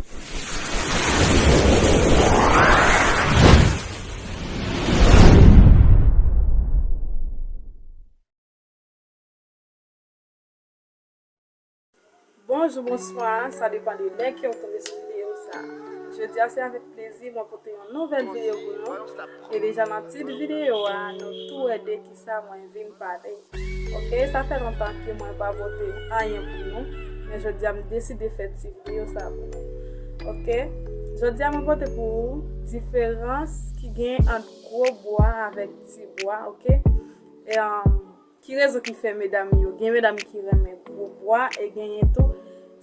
Bonjou, bonswa, sa depan de lè kew tonbe sou videyo sa. Jodia se avèk plezi mwen pote yon nouvèl videyo pou nou. E deja nan tit videyo a nou tou wè de ki. sa mwen vin pale ok sa fè lontan ke mwen pa pote anyen pou nou men jodia m deside fè ti video sa pou nou ok jodia mwen pote pou ou diferans ki gen ant gwo bwa avèk ti bwa ok eanm ki rezon ki fè medam yo gen medam ki renmen gwo bwa e genyen tou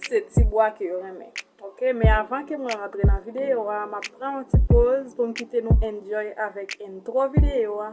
se ti bwa ke yo renmen ok men avan ke mwen rantre nan video a map pran yon ti poz pou m kite nou enjoy avèk entro video a.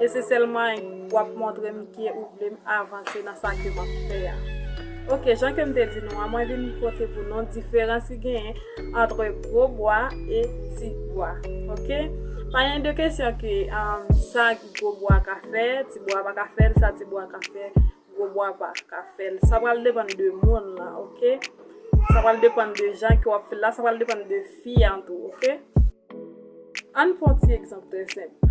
E se selman wap montrem ke ou vlem avanse nan sa ke map fè a. Ok jan kem te di nou an mwen vin pote pou nou diferans ki genyen antre gwo bwa e ti bwa ok. Pa gen de kesyon ke sa gwo bwa ka fè ti bwa pa ka fèl sa ti bwa ka fè gwo bwa pa ka fèl sa pral depann de moun lan ok. Sa pral depann de jan ke wap fèl la sa pral depann de fi an tou ok. Ann pran yon ti egzanp trè senp.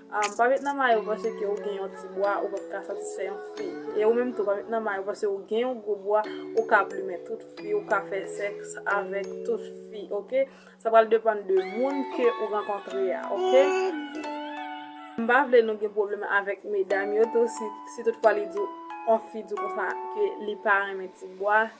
Pa met nan mayo paske ou gen yon ti bwa ou pap ka satisfè yon fi. E ou menm tou pa met nan mayo paske ou gen yon gwo bwa ou ka plumen tout fi, ou ka fè sèks avèk tout fi ok. Sa pral depann de moun ke ou rankontre a ok. M pa vle nou gen pwoblèm avèk medam yo tou si tout fwa li di w, yon fi di w konsa ke li pa renmen ti bwa.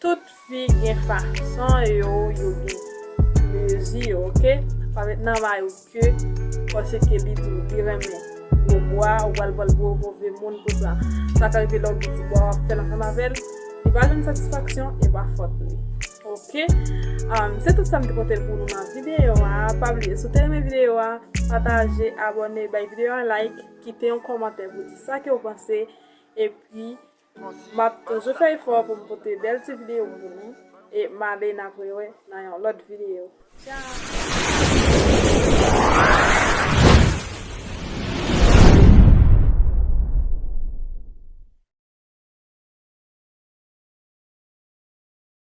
Tout fi gen fason yo yo gen plezi yo ok pa met nan may ou ke pase ke li diw li renmen gwo bwa ou pral pranl pou move moun pou sa sa ka rive lè ou gen ti bwa wap fèl ansanm avèl li pa jwenn satisfaksyon epa fòt li ok se tout sam te pote pou nou nan video a pa bliye si ou te renmen video a pataje abòne bay video a like kite yon kòmantè pou di sa ke ou panse epi. Map toujou fè efò pou m pote bèl ti video pou nou e m ale n ap rewè nan yon lòt video tchaaaaw.